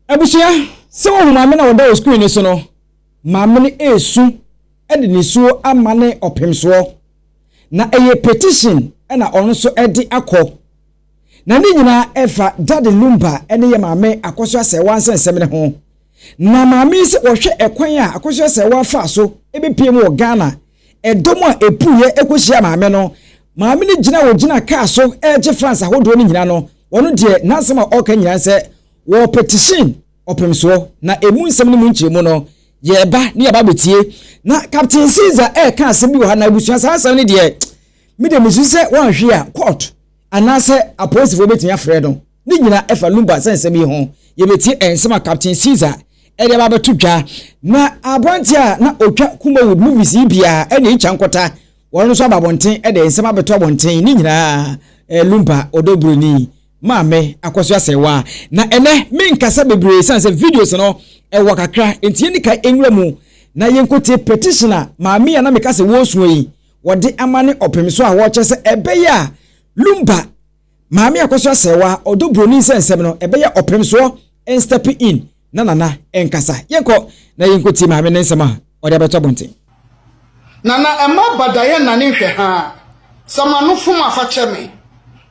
Abusua, sɛ wohu maame no a ɔda wɔ screen no so no, maame no resu de nisuo ama ne ɔpemsoɔ, na ɛyɛ petition na ɔno nso de akɔ. Na ne nyinaa ɛfa Daddy Lumba ne yɛ maame Akosua Sɛɛwa nsɛnsɛm no ho. Na maame yi sɛ ɔhwɛ ɛkwan a Akosua Sɛɛwa faa so bɛpiem wɔ Ghana Ɛdɔm a epueɛ kɔhyiaa maame no. Maame no gyina a ɔgyina kaa so regye France ahodoɔ no nyina no, ɔno deɛ n'asɛm a ɔreka nyina nsɛ wɔ petition ɔpem soɔ. Na ɛmu nsɛm no mu nkyerɛmu no yɛreba na yɛaba abɛtie. Na Captain Caesar reka asɛm bi wɔ ha na abusua saa asɛm no deɛ me deɛ mesusu sɛ wɔanhwe a court anaasɛ apolisifoɔ bɛtumi afrɛ no. Ne nyinaa ɛfa Lumba nsɛnsɛm yi ho. Yɛbɛtie nsɛm a Captain Caesar de aba abɛto dwa. Na aberanteɛ a na ɔtwa Kumawood movies yi biara ɛne Icha Nkota, wɔn nso aba abɔnten de nsɛm abɛto abɔnten. Ne nyinaa ɛɛ Lumba ɔdɔ buroni maame Akwasu Asɛɛwa. Na ɛnɛ menkasa bebree ɛsiane sɛ videos no ɛwɔ kakra nti yɛnni kan nwura mu na yɛnkɔtie petition a maame yi a na meka sɛ wɔresua yi wɔde ama ne ɔpemso a wɔrekyɛ sɛ ɛbɛyɛ a Lumba Maame akɔso asɛewa ɔdɔ buroni nsɛnsɛm no ɛbɛyɛ ɔpem soɔ and step in na Nana nkasa. Yɛnkɔ na yɛnkɔtie maame no nsɛm a ɔde abɛto abɔnten. Nana ɛmma badayɛ nane nhwɛ haa sɛ m'ano fom afa kyɛ me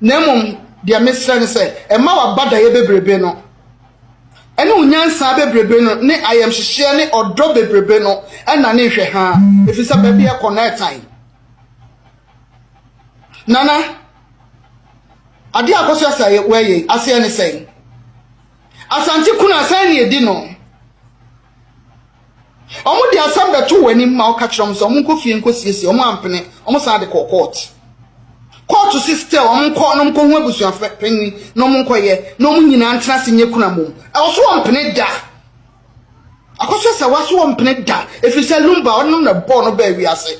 na mmom deɛ mesrɛ ne sɛ ɛmma w'abadayɛ bebrebe no ɛne wo nyansaa bebrebe no ne ayɛmhyehyeɛ ne ɔdɔ bebrebe no ɛnane nhwɛ haa ɛfiri sɛ baabi ɛkɔ no ɛtan Nana Adeɛ a Akwasia Saawɛ yɛ aseɛ ne sɛn? Asante kunu a sɛn na ɛdi no? Wɔn de asɛm bɛto wɔn anim ma wɔka kyerɛ wɔn sɛ wɔn nkɔ fie nkɔ siesie wɔn ampene wɔn san de kɔɔ kɔɔto. Kɔɔto si still wɔn nkɔ na wɔn nkɔ hu abusuafo panyin na wɔn nkɔ yɛ na wɔn nyinaa ntena ase nyɛ kunu amom. Ɛwɔ so wɔn mpene da. Akɔsɛ sɛ wa so ɔmpene da ɛfiri sɛ Lumba ɔno na bɔɔ no baa wiase.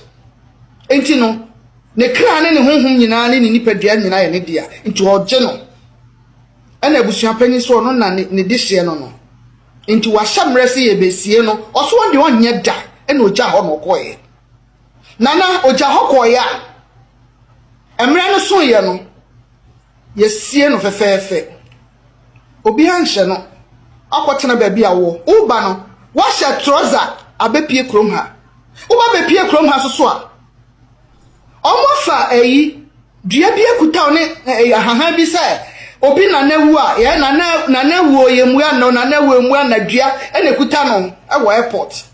Nti no, ne kra ne ne honhom nyinaa ne ne nipadua nyinaa yɛ ne dea, nti ɔgye no. Ɛna abusuapanyin so ɔno na ne de hyeɛ no no. Nti wahyɛ mmerɛ sɛ yɛbɛsie no, ɔso ɔnde ɔnyɛ da ɛna ɔgya hɔ na ɔkɔɔyɛ. Nana ɔgya hɔ kɔɔyɛ a, mmerɛ no soeɛ no, Yɛasie no fɛfɛɛfɛ. Obiara nhyɛ no. Akɔtena baabi a wowɔ. Woreba no, woahyɛ trɔsa abɛpue kurom ha. Woba bɛpue kurom ha nso so a, wɔafa ayi, dua bi akutaw ne eh, ahahan bi sɛ obi nana awu a, yɛ nana nana awu o, yɛmmua no, nana awu emmua na dua ɛna ekuta no wɔ airport.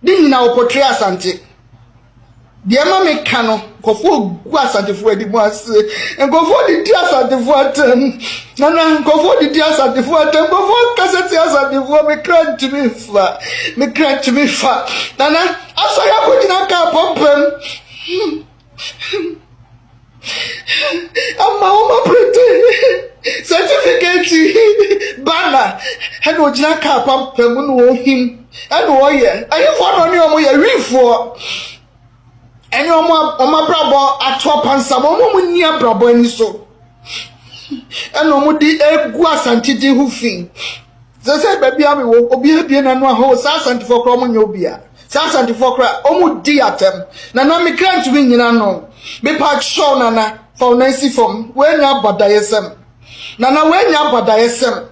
ne nyina wɔkɔtwere Asante. Deɛ ɛma me ka no, nkɔfoɔ gu Asantefoɔ anim ase. Nkɔfoɔ didi Asantefoɔ atam. Nana, nkɔfoɔ didi Asantefoɔ atam. Nkɔfoɔ kasa ti Asantefoɔ, me kra ntumi fa. Me kra ntumi fa. Nana, asɔre akɔgyina kaa pɔmpam. ama wɔn aprete sɛtifikɛti bana ɛna ogyina kaa papa mu na ohim ɛna ɔyɛ ɛhefoɔ na ɔne wɔn yɛ wifoɔ ɛne wɔn wɔn abrabɔ ato apansa wɔn a wɔn nni abrabɔ ani so ɛna wɔn de egu asantedi ho fi. Sɛ sɛ baabi a mewɔ obi abie n'ano a hoo saa asantefoɔ koraa ɔmo nyɛ obi a saa asantefoɔ koraa ɔmo di atɛm nana me kra ntumi nyina ano mepa kyɛw nana fa wo nan si fam woanya abadayɛsɛm nana woanya abadayɛsɛm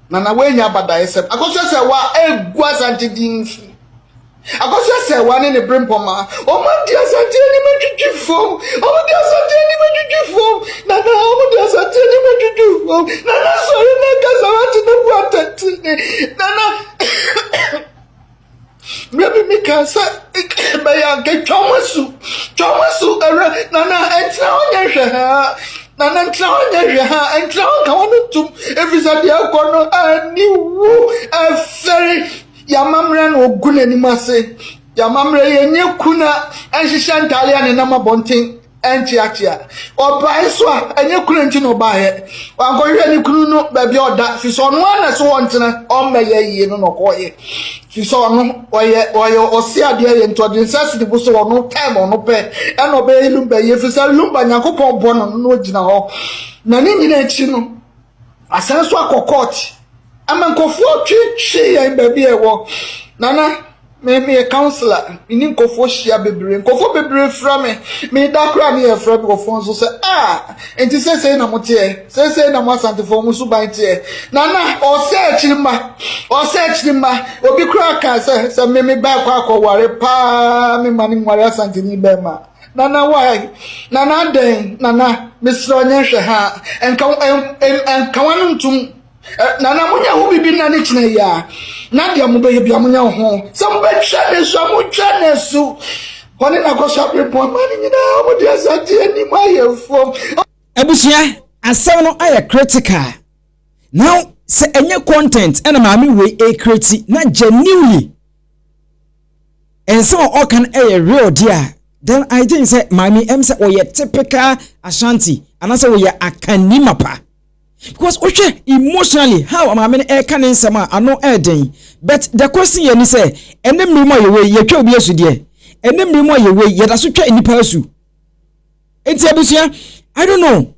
nana woanya abadayɛsɛm akɔsɛ sɛ wa egu asante din fi Akɔso asɛewa ne ne berempɔma. Wɔde asante anim adwudwo fam. Wɔde asante anim adwudwo fam. Nana, wɔde asante anim adwudwo fam. Nana, sɔre na ɛka sarate na bu atɛntene. Nana, berɛ bi mi kaa sɛ bɛyɛ anka twa wɔn asu. Twa wɔn asu, ɛwura. Nana, ɛntena hɔ nyɛ hwɛ haa. Nana, ɛntena hɔ nyɛ hwɛ haa. Ɛntena hɔ nka wɔn ntom. Ɛfiri sɛ deɛ ɛkɔ no, ɛni wu ɛfɛre. Y'amammerɛ na ɔgu n'anim ase. Y'amammerɛ yɛnyɛ kuna ɛnhyehyɛ ntaare a nenam abɔnten ɛnkyeakyea. Ɔbae nso a ɛnyɛ kuna nti na ɔbaeɛ. Wankɔhwehwɛ ne kunu no baabi a ɔda firi sɛ ɔno ara na ɛsɛ ɔntena ɔmmɛyɛ yie no na ɔkɔeɛ. Firi sɛ ɔno ɔyɛ ɔyɛ ɔse adeɛ yɛ nti ɔde nsa si ne bo sɛ ɔno time ɔno pɛ ɛna ɔbɛyɛ Lumba yie firi sɛ Lumba Nyankopɔn bɔ no no na ɔgyina hɔ na ne nyinaa akyi no Asan so akɔ court. Amankofoɔ twe hye yɛn baabi a ɛwɔ. Nana, me meyɛ councillor, me ne nkurɔfoɔ hyia bebree. Nkurɔfoɔ bebree fra me. Meda koraa ne yɛfrɛ nkurɔfoɔ nso sɛ, ah, nti seesei na moteɛ, seesei na mo asantefoɔ mo suban teɛ. Nana, ɔsɛ akyiri mma, ɔsɛ akyiri mma. Obi koraa kaa sɛ, sɛ me me bɛɛ kɔ akɔware paa, me ma ne nware asanteni bɛrima. Nana why? Nana adɛn? Nana mesrɛ ɔnyɛ nhwɛ ha nka nka wano ntum Nana mo nyɛ ho biribi nna ne kyena yi a na deɛ mo bɛyɛ bia mo nyɛ ho sɛ mo bɛtwa ne so a mo twa ne so wɔne na kɔ so abrepɔ ama ne nyinaa wɔn de asante anim ayɛ fam. Abusua asɛm no ayɛ critical now sɛ ɛnyɛ content ɛna maame wei ɛkreti na genuinely Nsɛm a ɔka no yɛ real deɛ a, then I think sɛ maame yi, ɛm sɛ ɔyɛ typical Ashanti anaasɛ ɔyɛ Akanni mapa. Because wohwɛ emotionally how maame no ɛreka ne nsɛm a, ano ɛɛden. But the question yɛ ni sɛ, ɛnɛ mmere mu a yɛwɔ yi, yɛtwa obi asu deɛ? Ɛnɛ mmere mu a yɛwɔ yi, yɛda so twa nnipa asu. Enti abusua, I don't know.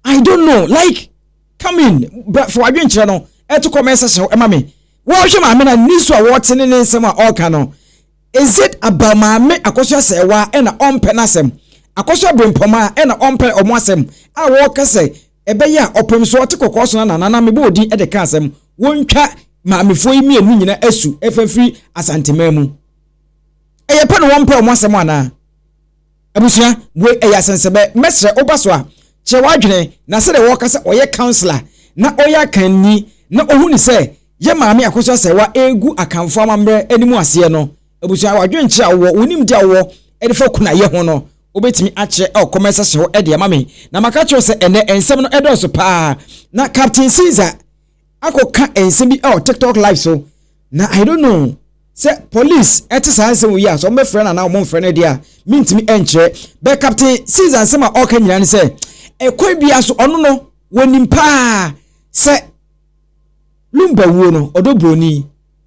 I don't know. Like, come in. But for adwenkyerɛ no, ɛto comment section ɛma me. Wɔrehwɛ maame no a ne su a wɔte ne ne nsɛm a ɔreka no, is it about maame akɔso asɛɛwa ɛna ɔmpɛ n'asɛm, akɔso abrempɔma ɛna ɔmpɛ ɔmo asɛm a wɔreka sɛ ɛbɛyɛ a ɔpem so ɔte kɔkɔɔ so na nana no amebɔ odin ɛde ka asɛm wɔntwa maamefoɔ yi mmienu nyina asu ɛfa firi Asanteman mu ɛyɛ pɛ na wɔmpɛ ɔmo asɛm anaa? Abusua, wei ɛyɛ asɛnsɛbɛ. Mɛsrɛ wo ba so a, kyerɛ w'adwene na sɛdeɛ wɔka sɛ ɔyɛ councilor na ɔyɛ akanni na ɔhunu sɛ yɛ Maame Akosua Serwaa ɛregu Akanfoɔ amammerɛ anim aseɛ no, abusua, w'adwenkyerɛ a wowɔ, wo nimdeɛ a wowɔ de fa kunayɛ ho no, wobɛtumi akyerɛ ɛwɔ comment section hɔ de ama me. Na maka akyerɛ wo sɛ ɛnnɛ nsɛm no ɛdɔɔso paa. Na Captain Caesar. akɔka nsɛm bi wɔ tiktok live so na i don't know sɛ police ɛte saa nsɛm wɔ yi a sɛ wɔbɛfrɛ no anaa wɔmfrɛ no deɛ a mentumi nkyerɛ bɛ captain caesar nsɛm a ɔka nyinaa ne sɛ ɛkwan bia so ɔno no wɔnim paa sɛ lumba wuo no ɔdɔ buroni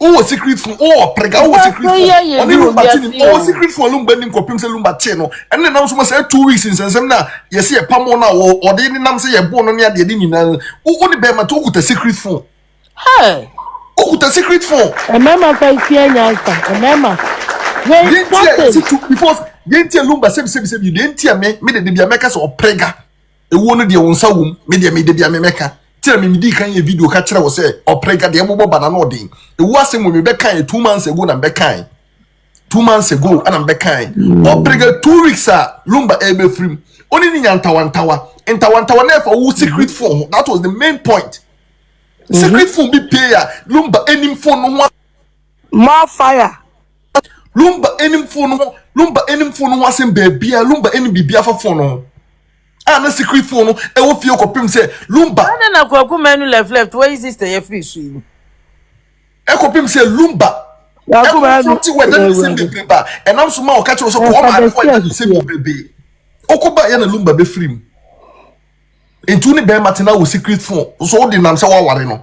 Wo wɔ secret phone, wo wɔ prega, wo wɔ secret phone. Ɔne Lumba ti nim, ɔwɔ secret phone a Lumba nim kɔpem sɛ Lumba tee no. Ɛno na nam so ma sɛ two weeks nsɛnsɛm no a yɛse yɛ pamo no a ɔde ne nam sɛ yɛ boo no ne adeɛ de nyinaa no. Wo ne bɛrima ti okuta secret phone. Hey! Okuta secret phone. Ɛmɛma fa tia nyansa, ɛmɛma. Hey, Yentia, yɛsi tu, because yentia Lumba sɛbi sɛbi sɛbi, yentia me, me de de bia mɛka sɛ ɔprega. Ewuo no deɛ wo nsa wom me deɛ me dabia me mɛka tira me medii kan yɛ video ka kyerɛ wo sɛ ɔprɛga deɛ bobɔ ba n'ano ɔden ewuo asɛm wɔ me bɛkae two months ago na mbɛkae two months ago ana mbɛkae ɔprɛga two weeks a lumba ɛbɛfirim ɔne ne nya ntawantawa ntawantawa na ɛfa wo secret phone ho that was the main point secret phone bi pay a lumba anim phone no ho more fire lumba anim phone no ho lumba anim phone no ho asɛm baabia lumba anim biribi afa phone no ho a na secret phone no ɛwɔ fie kɔpem sɛ lumba. Ade na kwaku manu left left wɔyi sister yɛ firi so yi. Ɛkɔpem sɛ lumba. Kwaku manu ɛkɔfo ti wɔ ɛdan nsɛm bebree ba ɛnam so ma ɔka kyerɛ sɛ kɔɔ maa ɛkɔ ɛdan nsɛm bebree ɔkɔ ba yɛ na lumba bɛfiri mu nti wo ne bɛrima tena wɔ secret phone nso wode nam sɛ woaware no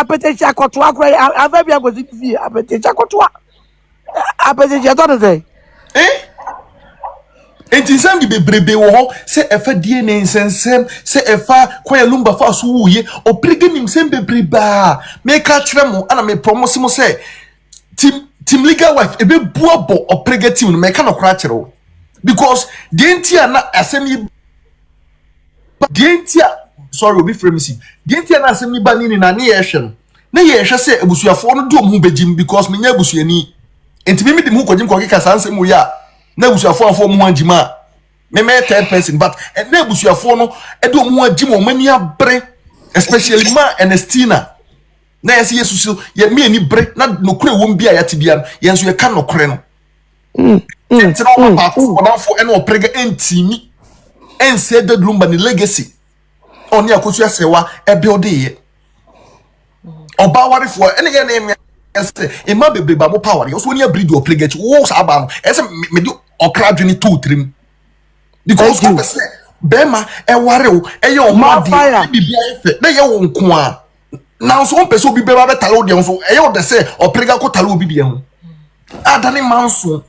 apɛtɛhyɛ akɔtoa kora yɛ afa bi akɔsi ne fie apɛtɛhyɛ akɔtoa apɛtɛhyɛ tɔ no sɛ nti nsɛm de bebrebe wɔ hɔ sɛ ɛfa die ne nsɛnsɛm sɛ ɛfa kɔyɛ lumba fa so wuye ɔpirigi nim nsɛm bebrebe a meka kyerɛ mo ana meprɔ mo se mo sɛ Team team legal wife ebe bua bɔ ɔprega team no mɛka no kora kyerɛ wo because deɛ nti a na asɛm yi ba deɛ nti a sorry obi frɛ me si deɛ nti a na asɛm yi ba ne ni na ne yɛhwɛ no ne yɛhwɛ sɛ abusuafoɔ no de wɔn ho bɛgyim because menyɛ abusuani nti me mede me ho kɔgyim kɔkeka saa nsɛm wei a na abusuafoɔ amfa wɔn ho angyim a memɛyɛ third person but ɛnna abusuafoɔ no de wɔn ho agyim wɔn ani abere especially ma Ernestina Na yɛsɛ yɛsu so yɛ me ani bere na nokorɛ wɔm bi a yɛate bia no yɛn nso yɛka nokorɛ no. Mm, mm, Nti na ɔma mm, baako mm. bɔdamfo ɛne ɔprɛga ɛntimi ɛnsɛ daduro mba ne legacy a ɔne akosu asɛwa ɛbuildeeɛ. Ɔbaa warefoɔ ɛne yɛ ne mmea ɛsɛ mmaa bebree ba mo pa aware ɔso ni abiri di ɔprɛga akyi wo saa baa no ɛsɛ me- mede ɔkra adwene too tirim because Thank you. wopɛ sɛ bɛrima ɛware wo ɛyɛ ɔho More adeɛ fire. ne biribi ayɛ fɛ na ɛyɛ wo nko a nanso wompɛ sɛ obi bɛba bɛtare wo deɛ ho so ɛyɛ wo dɛ sɛ ɔperega kɔtare obi deɛ ho adane manso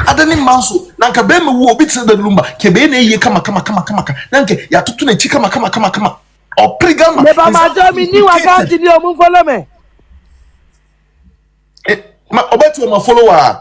adane manso na nka bɛrima wu obi te sɛ danilu mba ka ɛbɛyɛ na ɛyie kama kama kama kama ka na nka yɛatoto n'akyi kama kama kama kama ɔperega ma meba madɔ me ni wakante ni ɔmo mfolo me eh, ma ɔbɛte ɔma follow a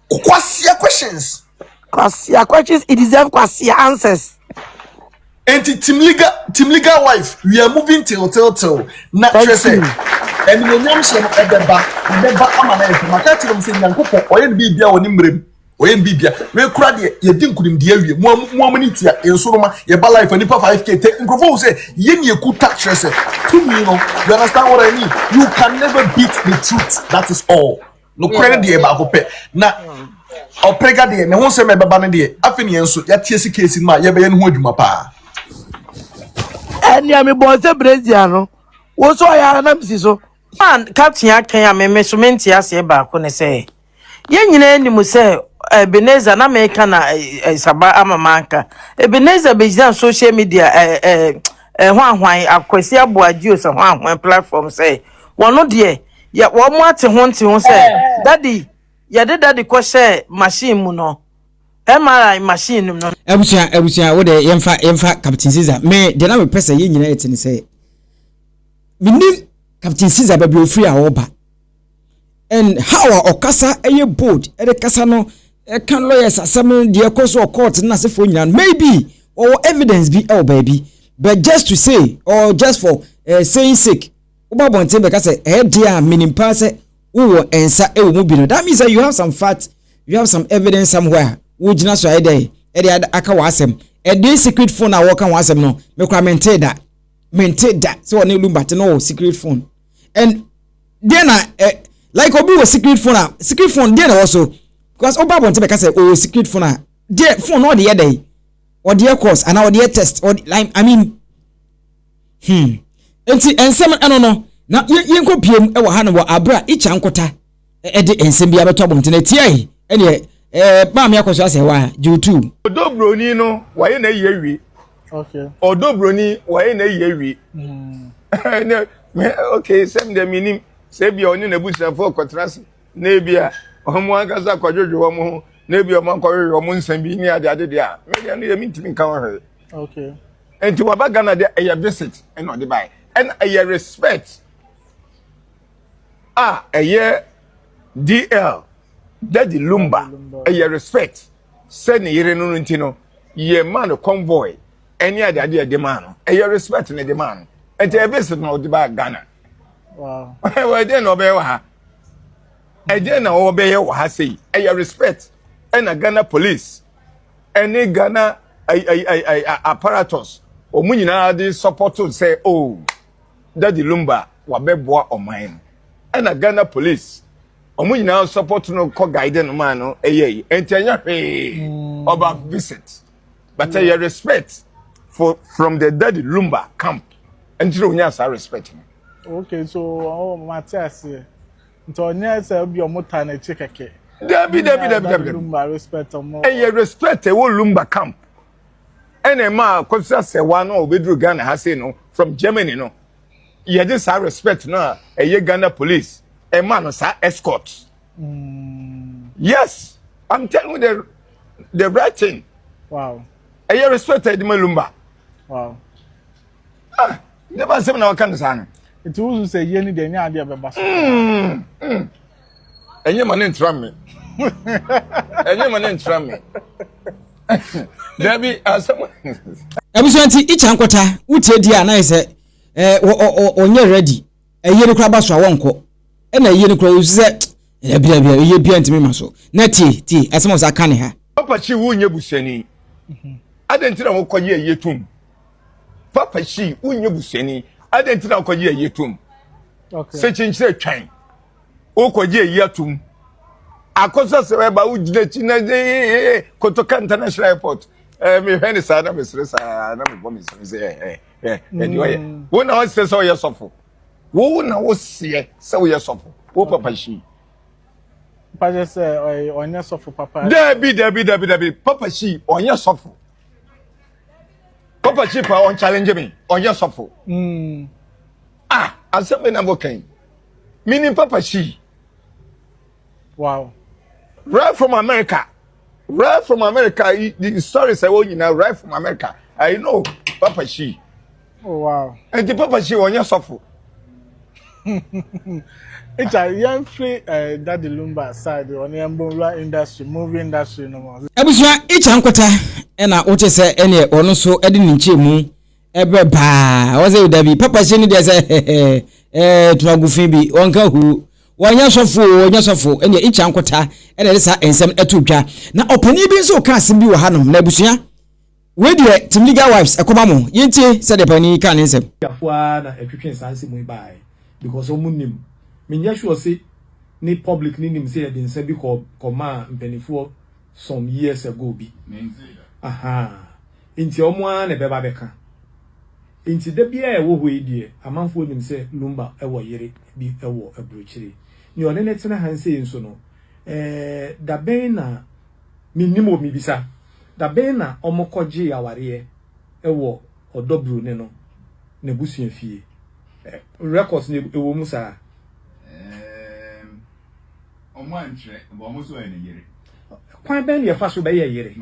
Kwasia questions. Kwasia questions it deserve kwasia answers. Enti team legal team legal wife we are moving till till till na kyerɛ sɛ ɛnumonyam hyɛ no ɛbɛba ɛbɛba ama na yɛfɛ maka kyerɛ mu sɛ nyankopɔ ɔyɛ no biribi a wɔ ne mmerɛ mu ɔyɛ no biribi a wekura deɛ yɛdi nkunimdi awie mu mu amani tia nsoroma yɛba life nipa 5k te nkurɔfoɔ hu sɛ yɛ ne yɛkuta kyerɛ sɛ tumi no you understand what I mean you can never beat the truth that is all. nokorɛ no deɛ baako pɛ na ɔpɛga deɛ ne ho nsɛm ɛbɛba no deɛ afei ne yɛn nso yɛateɛ si keesi no a yɛbɛyɛ no ho adwuma paa ɛnea mebɔɔ sɛ brezia no wo so ɔyɛ ara na mesi so ma ka tea kɛn a meme so mente aseɛ baako ne sɛ yɛn nyinaa anim sɛ Ebenezer na meka na eh, eh, saba ama manka Ebenezer bɛgyina social media ɛho eh, ahwan akwasi aboa geos ho ahoa platform sɛ wɔno deɛ yɛ wɔn ate ho nte ho sɛ dadi yɛde dadi kɔ hyɛ machine mu no mri machine no. abusua abusua wo de yɛnfa yɛnfa captain caesar me de na mepɛ sɛ yɛn nyinaa yɛte ne sɛ menim captain caesar baabi ofiri a ɔba and how a ɔkasa ɛyɛ bold ɛde kasa no ɛka lawyers asɛm no deɛ ɛkɔ so ɔkɔɔte no n'asefoɔ nyinaa no maybe ɔwɔ evidence bi ɛwɔ baabi but just to say or just for uh, saying sake wobɔ abɔnten bɛka sɛ ɛyɛ deɛ a menim paa sɛ wowɔ nsa wɔ mu bi no that means that you have some fact you have some evidence somewhere a wogyina so a ɛdɛ ɛde aka wɔ asɛm ɛde secret phone a wɔka ho asɛm no mekora mente da mente da sɛ wɔne lumba te no secret phone and deɛ na eh, like obi wɔ secret phone a secret phone deɛ na ɛwɔ so because wobɔ abɔnten bɛka sɛ ɔwɔ secret phone a deɛ phone no ɔde yɛ dɛ ɔde yɛ course anaa ɔde yɛ test ɔde like i mean Hmm. Enti nsɛm ɛno no, na yɛnkɔ biem wɔ ha no wɔ abere a Icha Nkota ɛde nsɛm bi abɛtɔ abɔnten atiae ɛneɛ ɛɛ maame akɔ so asɛ hɔ a gyewutuu. Ɔdɔ broni no wɔayɛ na yie awie. Ɔdɔ broni wɔayɛ na yie awie. Ok sɛm deɛ menim sɛ ebia ɔne n'abusuafoɔ kɔtena ase na ebia wɔn ankasa akɔdwodwo wɔn ho na ebia wɔn akɔhwehwɛ wɔn nsɛm bi ne adeade deɛ a medeɛ no yɛ mentumi nka ho hwee. okay nti waba ghana de ɛyɛ visit ɛna ɔde bae ɛna ɛyɛ respect a ɛyɛ dl daddy lumba ɛyɛ respect sɛ ne yere no no nti no yɛ maa no convoy ɛne ade ade ɛde maa no ɛyɛ respect na ɛde maa no ɛnti ɛyɛ visit na ɔde baa ghana wow ɛdeɛ na ɔbɛyɛ wɔ ha ɛdeɛ na ɔbɛyɛ wɔ ha sei ɛyɛ respect ɛna ghana police ɛne ghana ayi ayi ayi ayi apparatus wɔn nyinaa de sɔpɔto sɛ o oh, dadi lumba wabɛboa ɔman no ɛna ghana police wɔn nyinaa sɔpɔto no kɔ guide no maa no ɛyɛ yi nti ɛnyɛ hwee mm. ɔba visit but ɛyɛ mm. respect for from the dadi lumba camp ɛnti na onya saa respect no. okay so ɔmo oh, ma te aseɛ. Nti ɔnyɛ sɛ obi ɔmo ta n'akyi kɛkɛ. Dabi dabi dabi dabi. Lumba respect ɔmo. Ɛyɛ respect ɛwɔ Lumba camp. Ɛna ɛma kɔfisa sɛwa no a obeduru Ghana ha sei no from Germany no. Yɛde saa respect no a ɛyɛ Ghana police ɛma no saa escort. Mm. Yes, I'm telling you the the right thing. Wow. Ɛyɛ respect ɛde ma Lumba. Wow. ah ne ba nsɛm na waka no saa no nti wosu sɛ yie no deɛ ɛnyɛ adeɛ bɛba so mm, mm. ɛnyɛ ma ne ntra me ɛnyɛ ma ne ntra me dabi asɛm abusua nti ikya nkɔta wotie di a na yɛ sɛ ɔnyɛ ready ɛyɛ no kora ba so a wɔnkɔ ɛna ɛyɛ no kora wo sɛ ɛbi ɛbi ɛyɛ bi ntumi ma so na tie tie ɛsɛm ɔsa ka ne ha. papa si wo nyɛ busani mhm. adɛn nti na wokɔ yɛ ɛyɛ tom papa si wo nyɛ busani adɛn nti na wokɔ yɛ ɛyɛ tom sɛ kyinkyerɛ twɛn wokɔ yɛ ɛyɛ tom akɔsɛ sɛ ɛba wogyina akyi na kotoka international airport mehwɛ ne saa na mesere saa na mebɔ mesere sɛ ɛ ɛdi ɔyɛ mm. wo na ɔsɛ sɛ ɔyɛ sɔfo wo na woseɛ sɛ woyɛ sɔfo wo papa hyi mpakyɛ sɛ ɔnyɛ sɔfo papa dabi dabi dabi dabi papa hyi ɔnyɛ sɔfo papa hyi pa ɔnchallenge me ɔnyɛ sɔfo mm. ah asɛm bi na mokɛn menim papa hyi wow right from america right from america the story sɛ wɔn nyinaa right from america i know papa shi oh wow nti papa shi wɔnyɛ sɔfo. Echa yɛn firi eh, Daddy Lumba side ɔne yɛn mbɔnwura industry movie industry no mu. Abusua Echa Nkwata ɛna wote sɛ ɛneɛ ɔno nso ɛde ne nkyɛn mu ɛbrɛ paa ɔsɛ dabi papa hyɛ ne deɛ sɛ ɛɛ tumagu fi bi ɔnka hu Wɔnyɛ sɔfo oo, wɔnyɛ sɔfo, ɛnneɛ Icha Nkota na ɛde saa nsɛm no to dwa. Na ɔpanin bi nso reka asɛm bi wɔ hanom, na abusua, wei deɛ Team Legal Wives ɛkɔma mo, yɛntie sɛdeɛ panin yi kaa ne nsɛm. Tiafo ara na ɛtwetwee saa nsɛm yi baeɛ because ɔmo nim. Menyɛ sure se ne public no nim se yɛde nsa bi kɔɔ kɔmaa mpaninfoɔ some years ago bi ahaa nti wɔn ara na ɛbɛba bɛka nti da biara a ɛwɔ hɔ yi deɛ amanfoɔ nim sɛ Lumba wɔ yere bi wɔ aburokyire nea ɔne ne tena ha nsei nso no ɛɛ dabɛn na menim wɔ mebisa dabɛn na wɔn kɔgyee awareɛ wɔ ɔdɔ buroni no n'abusua fie records no ɛwɔ mu saa. Kwan bɛn na yɛfa so bɛyɛ yere?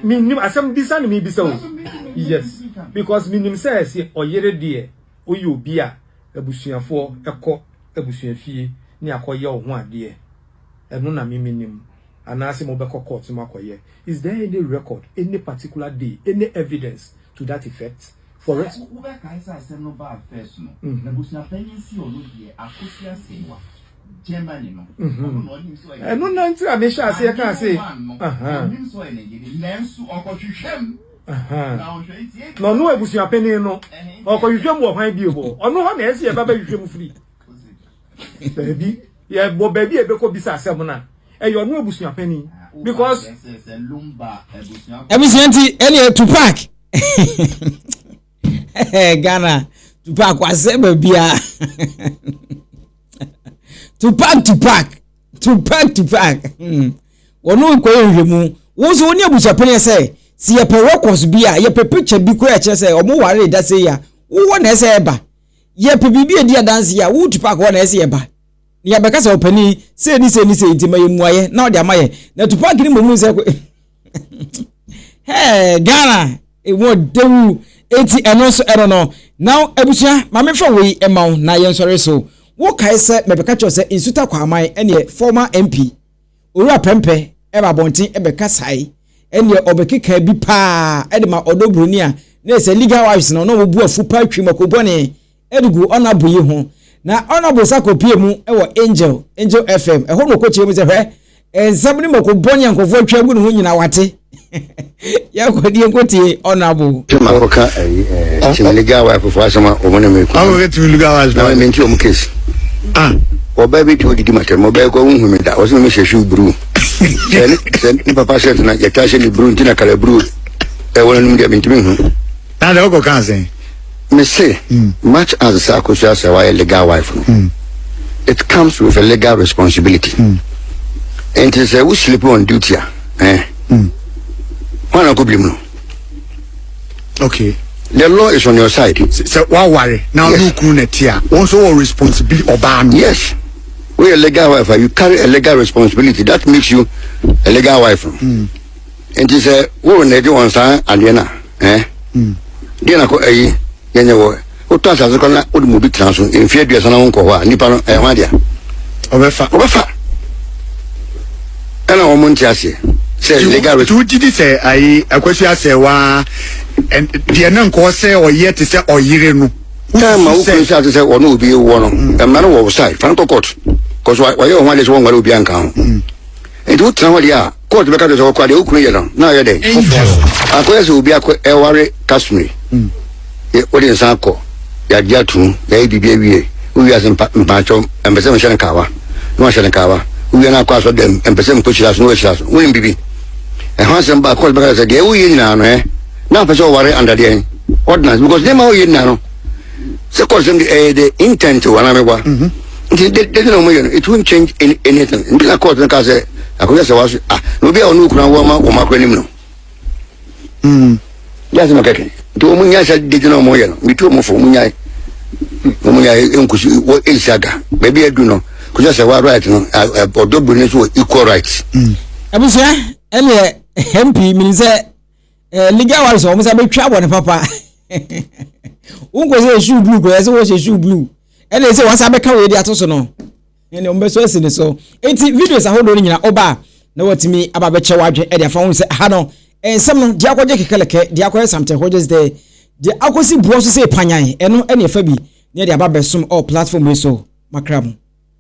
Menim asɛm bisa na mebisa o. Yes, because menim sɛ sɛ ɔyere deɛ woyɛ obi a abusuafoɔ kɔ abusua fie ne akɔyɛ wo ho adeɛ. Ɛno na me menim. anaasɛ mo bɛkɔ court no mu akɔyɛ, is there any record, any particular day, any evidence to that effect? For ex. Sɛ wo bɛkae sɛ asɛm no baa first no, abusua panyin si ɔno deɛ Akosua Assewa, Germany no, ɔno na ɔnim sɛ ɔyɛ ne yere. Ahenman one no, ɔnim sɛ ɔyɛ ne yere, nanso ɔkɔhwehwɛ mu, na ɔhwɛ nti ebia ɔbɛyɛ. Na ɔno abusua panyin no, ɔkɔhwehwɛ mu wɔ hwan bio hɔ? Ɔno hɔ na ɛsɛ sɛ yɛba bɛhwehwɛ mu firi. baabi yɛbɔ baabi a ɛbɛkɔ bisa asɛm no a ɛyɛ ɔno abusua panin because abusua nti ɛneɛ tupac ghana tupac wasɛ baabia tupac tupac tupac tupac hmm. wɔne nkɔyɛ nhwɛmu wo nso wo ne abusua panin sɛ sɛ yɛpɛ records bi a yɛpɛ picture bi koraa ɛkyerɛ sɛ ɔmo ware da sɛ yi a wowɔ na ɛsɛ ɛba Yɛpɛ biribi a edi adanse a woretu paako hɔ na ɛsɛ sɛ yɛba, na yɛabɛka sɛ ɔpanyin yi, sei ne sei ne sei nti ma yɛn mmuaeɛ na ɔde ama yɛn. Na tu paaki no mmom nsɛ kɔ. Hɛɛ, Ghana, ɛmu ɔdɛ wu. Enti ɛno nso ɛno no. Na abusua, ma memfa wei mma wo na yɛnsɔre so. Wokae sɛ mebɛka kyerɛ wo sɛ nsuta kwaaman ɛneɛ former MP. Owura Prɛmpɛ ba abɔnten bɛkasae ɛnneɛ ɔbɛkekaa bi paa de ma ɔdɔ buroni a na ɛyɛ sɛ legal wives no na wɔbu afu paa twi mako bɔne de gu Honourable yi ho na Honourable sa kɔpie mu wɔ Angel, Angel FM, ɛhɔ na ɔkɔkyerɛ mu sɛ hwɛ nsɛm ne mako bɔne a nkurɔfoɔ atwa agu ne ho nyinaa wate. yɛkɔ deɛ nkotie honorable sɛ makɔka ayi ɛɛ tim legal wife fo asɛm a wɔn na mi kun Ɔmo kɛ tumi lu gawa na wɔn mi nti wɔn case Ah, ɔbaa bi ti o didi ma tɛm ɔbaa yi kɔ ohun mi da ɔsɛ mi hyɛ shoe bruu sɛ ne sɛ ne papa shirt na yɛ ta hyɛ ne bruu nti na kala bruu ɛwɔ n'anum deɛ mi ntumi hu na dɛ ɔkɔ kan sɛn. Me se much as sɛ akosua sɛ wayɛ legal wife no it comes with a legal responsibility nti sɛ wo sleep on duty a eh hwan na kɔbiri mu no okay the law is on your side. sɛ waware na ɔne okunu na ti a wɔn nso wɔ responsibility ɔbaa no. yes woyɛ legal wife a you carry a legal responsibility that makes you a legal wife. Mm. nti sɛ woro na ɛgye wɔn saa adeɛ no a eh, hmm. deɛ na kɔ ayi yɛnyɛ wɔ wotɔ asase kɔ na wode mu bi tena so mfeɛ aduasa na wonkɔ hɔ a nnipa no ɛho adea ɔbɛfa ɔbɛfa ɛna wɔn nte aseɛ sɛ legal rate. tuuti di sɛ ayi akwasi asɛ waa deɛ ne nkɔɔ sɛ ɔyɛ te sɛ ɔyere no. time a wokun sɛ ate sɛ ɔne obi wɔ no mm. mmara no wɔ wo side fan kɔ court kɔsɔ wɔyɛ wɔn ho adeɛ sɛ wɔn nware obi anka ho mm. nti wotena hɔ deɛ a. Court bɛka kyerɛ sɛ ɔkora deɛ okunu yɛ no na ayɛ dɛn? Angel. Akɔyɛ sɛ obi akɔ ɛware Kashmir. Hmm. Yɛ wode nsa akɔ. Yɛagye atum. Yɛayɛ biribi awie. Wowie ase mpa mpakyɛw ɛmpɛ sɛ mehyɛ no kaawa. Na wahyɛ no kaawa. Wowie no akɔ asɔ dɛm ɛmpɛ sɛ mekɔ hyira so na wahyira so. Wonim biribi. Ɛho asɛm ba court bɛka kyerɛ sɛ deɛ woyɛ nyinaa no ɛ. Na apɛ sɛ ɔware under deɛn? Ordinance because nneɛma a woyɛ nyinaa no sɛ kɔsɛm de ɛyɛ de intent wɔ anaa mɛboa nti de de na wɔn yɛ no it won't change any, anything nti na court no ka sɛ akɔyɛ sɛ waso ah na obi a ɔno okura wɔn ma wɔn akora nim no yɛ asɛm kɛkɛ nti wɔn nyɛ sɛ de de na wɔn yɛ no metu wɔn fo wɔn nyɛ wɔn nyɛ nkusi wɔ esi aga baabi adu no kɔsɛ sɛ wa right no ɔdɔ bu ne so wɔ equal right. abusua ɛnneɛ mp menim sɛ Eh, legal awards wɔn sɛ bɛtwa bɔ ne papa wonkɔ sɛ shoe blue kɔyɛ sɛ wɔhyɛ shoe blue ɛna ɛsɛ wɔn san bɛka wɔn adi ato so no ɛna wɔn bɛso asi ne so eti videos ahodoɔ no nyinaa ɔba na wɔtumi aba bɛkyɛ wɔadwe ɛde afa wɔn sɛ aha no nsɛm no deɛ akɔgye kɛkɛlɛkɛ deɛ akɔyɛ something akɔgye sɛ deɛ akɔsi buɔ so sɛ panyan ɛno ɛna ɛfa bi ne ɛde aba bɛsom ɔ platform yi so makra mu.